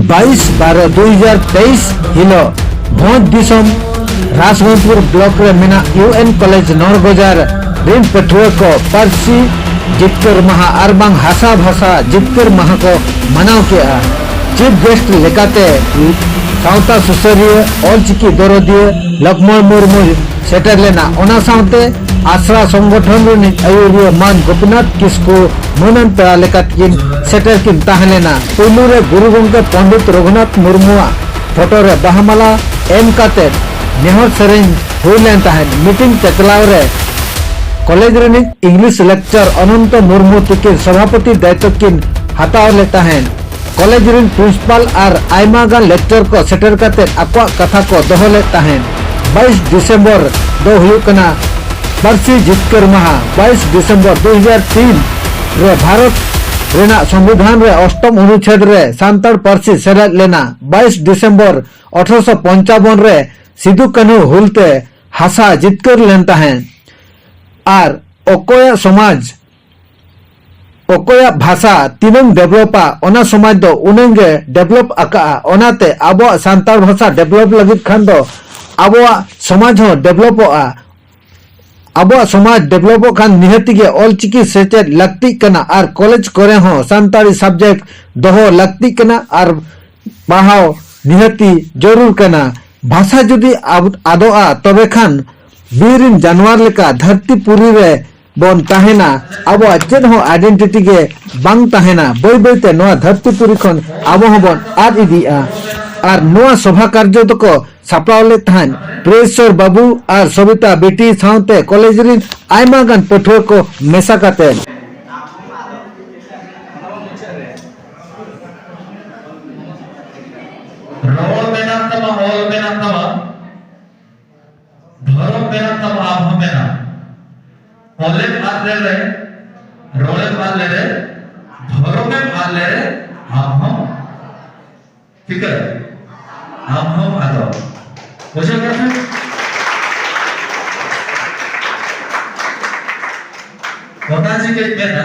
ᱵᱟᱭᱤᱥ ᱵᱟᱨᱚ ᱫᱩᱭ ᱦᱟᱡᱟᱨ ᱛᱮᱭᱤᱥ ᱦᱤᱞᱳᱜ ᱵᱷᱚᱸᱡᱽ ᱫᱤᱥᱚᱢ ᱨᱟᱥᱜᱚᱸᱡᱽᱯᱩᱨ ᱵᱞᱚᱠ ᱨᱮ ᱢᱮᱱᱟᱜ ᱤᱭᱩ ᱮᱱ ᱠᱚᱞᱮᱡᱽ ᱱᱚᱲᱜᱚᱡᱟᱨ ᱨᱤᱱ ᱯᱟᱹᱴᱷᱩᱣᱟᱹ ᱠᱚ ᱯᱟᱹᱨᱥᱤ ᱡᱤᱛᱠᱟᱹᱨ ᱢᱟᱦᱟ ᱟᱨ ᱵᱟᱝ ᱦᱟᱥᱟ ᱵᱷᱟᱥᱟ ᱡᱤᱛᱠᱟᱹᱨ ᱢᱟᱦᱟ ᱠᱚ ᱢᱟᱱᱟᱣ ᱠᱮᱫᱼᱟ ᱪᱤᱯ ᱜᱮᱥᱴ ᱞᱮᱠᱟᱛᱮ ᱥᱟᱶᱛᱟ ᱥᱩᱥᱟᱹᱨᱤᱭᱟᱹ ᱚᱞᱪᱤᱠᱤ ᱫᱚᱨᱚᱫᱤᱭᱟᱹ ᱞᱚᱠᱢᱚᱬ ᱢᱩᱨᱢᱩ ᱥᱮᱴᱮᱨ ᱞᱮᱱᱟ ᱚᱱᱟ ᱥᱟᱶᱛᱮ ᱟᱥᱲᱟ ᱥᱚᱝᱜᱚᱴᱷᱚᱱ ᱨᱤᱱᱤᱡ ᱟᱹᱭᱩᱨᱤᱭᱟᱹ ᱢᱟᱱ ᱜᱳᱯᱤᱱᱟᱛᱷ ᱠᱤᱥᱠᱩ ᱢᱟᱹᱱᱟᱱ ᱯᱮᱲᱟ ᱞᱮᱠᱟᱛᱮ ᱠᱤᱱ ᱥᱮᱴᱮᱨ ᱠᱤᱱ ᱛᱟᱦᱮᱸ ᱞᱮᱱᱟ ᱯᱩᱭᱞᱩ ᱨᱮ ᱜᱩᱨᱩ ᱜᱚᱢᱠᱮ ᱯᱚᱱᱰᱤᱛ ᱨᱚᱜᱷᱩᱱᱟᱛᱷ ᱢᱩᱨᱢᱩᱣᱟᱜ ᱯᱷᱚᱴᱚ ᱨᱮ ᱵᱟᱦᱟ ᱢᱟᱞᱟ ᱮᱢ ᱠᱟᱛᱮ ᱱᱮᱦᱚᱨ ᱥᱮᱨᱮᱧ ᱦᱩᱭ ᱞᱮᱱ ᱛᱟᱦᱮᱸᱫ᱾ ᱢᱤᱴᱤᱝ ᱪᱟᱪᱞᱟᱣ ᱨᱮ ᱠᱚᱞᱮᱡᱽ ᱨᱤᱱᱤᱡ ᱤᱝᱞᱤᱥ ᱞᱮᱠᱪᱟᱨ ᱚᱱᱚᱱᱛᱚ ᱢᱩᱨᱢᱩ ᱛᱤᱠᱤᱱ ᱥᱚᱵᱷᱟᱯᱚᱛᱤ ᱫᱟᱭᱤᱛᱚ ᱠᱤᱱ ᱦᱟᱛᱟᱣ ᱞᱮᱫ ᱛᱟᱦᱮᱸᱫ᱾ ᱠᱚᱞᱮᱡᱽ ᱨᱤᱱ ᱯᱨᱤᱱᱥᱤᱯᱟᱞ ᱟᱨ ᱟᱭᱢᱟ ᱜᱟᱱ ᱞᱮᱠᱪᱟᱨ ᱠᱚ ᱥᱮᱴᱮᱨ ᱠᱟᱛᱮ ᱟᱠᱚᱣᱟᱜ ᱠᱟᱛᱷᱟ ᱠᱚ ᱫᱚᱦᱚ ᱞᱮᱫ ᱛᱟᱦᱮᱸᱫ᱾ ᱵᱟᱭᱤᱥ ᱰᱤᱥᱮᱢᱵᱚᱨ ᱫᱚ ᱦᱩᱭᱩᱜ ᱠᱟᱱᱟ ᱯᱟᱹᱨᱥᱤ ᱡᱤᱛᱠᱟᱹᱨ ᱢᱟᱦᱟ ᱵᱟᱭᱤᱥ ᱰᱤᱥᱮᱢᱵᱚᱨ ᱫᱩ ᱦᱟᱡᱟᱨ ᱛᱤᱱ ᱨᱮ ᱵᱷᱟᱨᱚᱛ ᱨᱮᱱᱟᱜ ᱥᱚᱝᱵᱤᱫᱷᱟᱱ ᱨᱮ ᱚᱥᱴᱚᱢ ᱚᱱᱩᱪᱷᱮᱫ ᱨᱮ ᱥᱟᱱᱛᱟᱲ ᱯᱟᱹᱨᱥᱤ ᱥᱮᱞᱮᱫ ᱞᱮᱱᱟ ᱵᱟᱭᱤᱥ ᱰᱤᱥᱮᱢᱵᱚᱨ ᱟᱴᱷᱨᱚᱥᱚ ᱯᱚᱧᱪᱟᱵᱚᱱ ᱨᱮ ᱥᱤᱫᱩ ᱠᱟᱹᱱᱦᱩ ᱦᱩᱞ ᱛᱮ ᱦᱟᱥᱟ ᱡᱤᱛᱠᱟᱹᱨ ᱞᱮᱱ ᱛᱟᱦᱮᱸᱫ ᱟᱨ ᱚᱠᱚᱭᱟᱜ ᱥᱚᱢᱟᱡᱽ ᱚᱠᱚᱭᱟᱜ ᱵᱷᱟᱥᱟ ᱛᱤᱱᱟᱹᱝ ᱰᱮᱵᱷᱞᱚᱯᱟ ᱚᱱᱟ ᱥᱚᱢᱟᱡᱽ ᱫᱚ ᱩᱱᱟᱹᱝ ᱜᱮ ᱰᱮᱵᱷᱞᱚᱯ ᱟᱠᱟᱜᱼᱟ ᱚᱱᱟᱛᱮ ᱟᱵᱚᱣᱟᱜ ᱥᱟᱱᱛᱟᱲ ᱵᱷᱟᱥᱟ ᱰᱮᱵᱷᱞᱚᱯ ᱞᱟᱹᱜᱤᱫ ᱠᱷᱟᱱ ᱫᱚ ᱟᱵᱚᱣᱟᱜ ᱥᱚᱢᱟᱡᱽ ᱦᱚᱸ ᱰᱮᱵᱷᱞᱚᱯᱚᱜᱼᱟ ᱟᱵᱚᱣᱟᱜ ᱥᱚᱢᱟᱡᱽ ᱰᱮᱵᱷᱞᱚᱯᱚᱜ ᱠᱷᱟᱱ ᱱᱤᱦᱟᱹᱛᱤ ᱜᱮ ᱚᱞ ᱪᱤᱠᱤ ᱥᱮᱪᱮᱫ ᱞᱟᱹᱠᱛᱤᱜ ᱠᱟᱱᱟ ᱟᱨ ᱠᱚᱞᱮᱡᱽ ᱠᱚᱨᱮ ᱦᱚᱸ ᱥᱟᱱᱛᱟᱲᱤ ᱥᱟᱵᱽᱡᱮᱠᱴ ᱫᱚᱦᱚ ᱞᱟᱹᱠᱛᱤᱜ ᱠᱟᱱᱟ ᱟᱨ ᱯᱟᱲᱦᱟᱣ ᱱᱤᱦᱟᱹᱛᱤ ᱡᱟᱹᱨᱩᱲ ᱠᱟᱱᱟ ᱵᱷᱟᱥᱟ ᱡᱩᱫᱤ ᱟᱫᱚᱜᱼᱟ ᱛᱚᱵᱮ ᱠᱷᱟᱱ ᱵᱤᱨ ᱨᱮᱱ ᱡᱟᱱᱣᱟᱨ ᱞᱮᱠᱟ ᱫᱷᱟᱹᱨᱛᱤ ᱯᱩᱨᱤ ᱨᱮ ᱵᱚᱱ ᱛᱟᱦᱮᱱᱟ ᱟᱵᱚᱣᱟᱜ ᱪᱮᱫ ᱦᱚᱸ ᱟᱭᱰᱮᱱᱴᱤᱴᱤ ᱜᱮ ᱵᱟᱝ ᱛᱟᱦᱮᱱᱟ ᱵᱟᱹᱭ ᱵᱟᱹᱭ ᱛᱮ ᱱᱚᱣᱟ ᱫᱷᱟᱹᱨᱛᱤ ᱯᱩᱨᱤ ᱠᱷᱚᱱ ᱟᱵᱚ ᱦᱚᱸ ᱵᱚᱱ ᱟᱫ ᱤᱫᱤᱜᱼᱟ ᱟᱨ ᱱᱚᱣᱟ ᱥᱚᱵᱷᱟ ᱠᱟᱨᱡᱚ ᱫᱚᱠᱚ ᱥᱟᱯᱲᱟᱣ ᱞᱮᱫ ᱛᱟᱦᱮᱸᱫ ᱯᱨᱮᱥᱚᱨ ᱵᱟᱹᱵᱩ ᱟᱨ ᱥᱚᱵᱤᱛᱟ ᱵᱤᱴᱤ ᱥᱟᱶᱛᱮ ᱠᱚᱞᱮᱡᱽ ᱨᱤᱱ ᱟᱭᱢᱟ ᱜᱟᱱ ᱯᱟᱹᱴᱷᱩᱣᱟᱹ ᱠᱚ ᱢᱮᱥᱟ ᱠᱟᱛᱮ ᱨᱚᱲ ᱢᱮᱱᱟᱜ ᱛᱟᱢᱟ ᱚᱞ ᱢᱮᱱᱟᱜ ᱛᱟᱢᱟ ᱫᱷᱚᱨᱚᱢ ᱢᱮᱱᱟᱜ ᱛᱟᱢᱟ ᱟᱢ ᱦᱚᱸ ᱢᱮᱱᱟᱜ ᱚᱞᱮᱢ ᱟᱫ ᱞᱮᱨᱮ ᱨᱚᱲᱮᱢ ᱟᱫ ᱞᱮᱨᱮ ᱫᱷᱚᱨᱚᱢᱮᱢ ᱟᱫ ᱞᱮᱨᱮ ᱟᱢ ᱦᱚᱸ ᱪᱤᱠᱟᱹ ᱟᱢ ᱦᱚᱸ ᱟᱫᱚ ᱵᱩᱡᱷᱟᱹᱣ ᱠᱮᱫᱟ ᱯᱮ ᱚᱱᱟ ᱪᱤᱠᱟᱹᱧ ᱢᱮᱱᱟ